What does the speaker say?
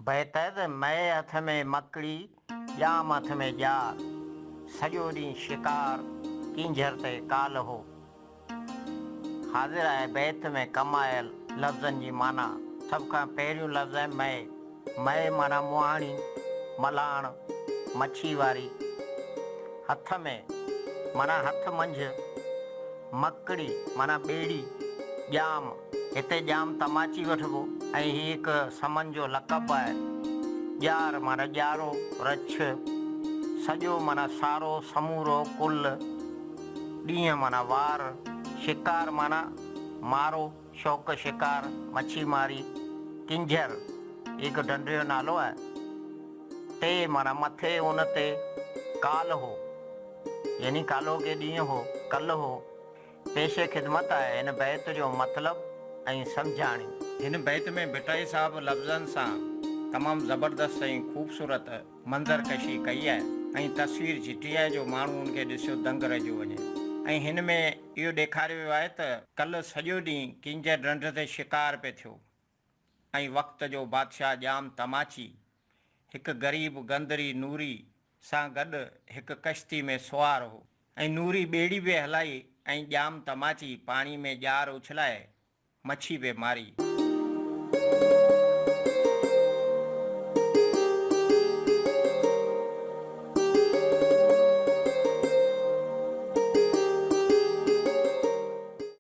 بهتر مئي هٿ ۾ مڪڙي، ڄام هٿ ۾ ڄار. سڄو ڏينهن شڪار، ڪينجهر تي ڪال هو. حاضر آهي بيت ۾ ڪم آيل لفظن جي معنيٰ. سڀ کان پهريون لفظ آهي مئي. مئي معنيٰ مهاڻي، ملهاڻ، مڇي واري. هٿ ۾ معنيٰ هٿ منجهه. مڪڙي معنيٰ ٻيڙي، ڄام. هتي ڄام تماچي وٺبو ۽ هي هڪ سمن جو لقب به آهي. ڄار معنيٰ ڄارو، رڇ، سڄو معنيٰ سارو، سمورو، ڪل، ڏينهن معنيٰ وار، شڪار معنيٰ مارو، شوق شڪار، مڇي ماري، ڪنجهر، هي هڪ ڍنڍ جو نالو آهي. تي معنيٰ مٿي، ان تي، ڪال هو، يعني ڪالهوڪي ڏينهن هو، ڪل هو. پيش خدمت آهي هن بيت جو مطلب ۽ سمجهاڻي. هن بيت ۾ ڀٽائي صاحب لفظن سان تمام زبردست ۽ خوبصورت منظر ڪشي ڪئي آهي ۽ تصوير جهٽي آهي جو ماڻهو ان کي ڏسيو دنگ رهجيو وڃي ۽ هن ۾ اهو ڏيکاريو ويو آهي ته ڪل سڄو ڏينهن ڪينجهر ڍنڍ تي شڪار پئي ٿيو ۽ وقت جو بادشاهه ڄام تماچي، هڪ غريب گندري نوري سان گڏ هڪ ڪشتي ۾ سوار هو ۽ نوري ٻيڙي به هلائي ۽ ڄام تماچي پاڻي ۾ ڄار اڇلائي مڇي به ماري.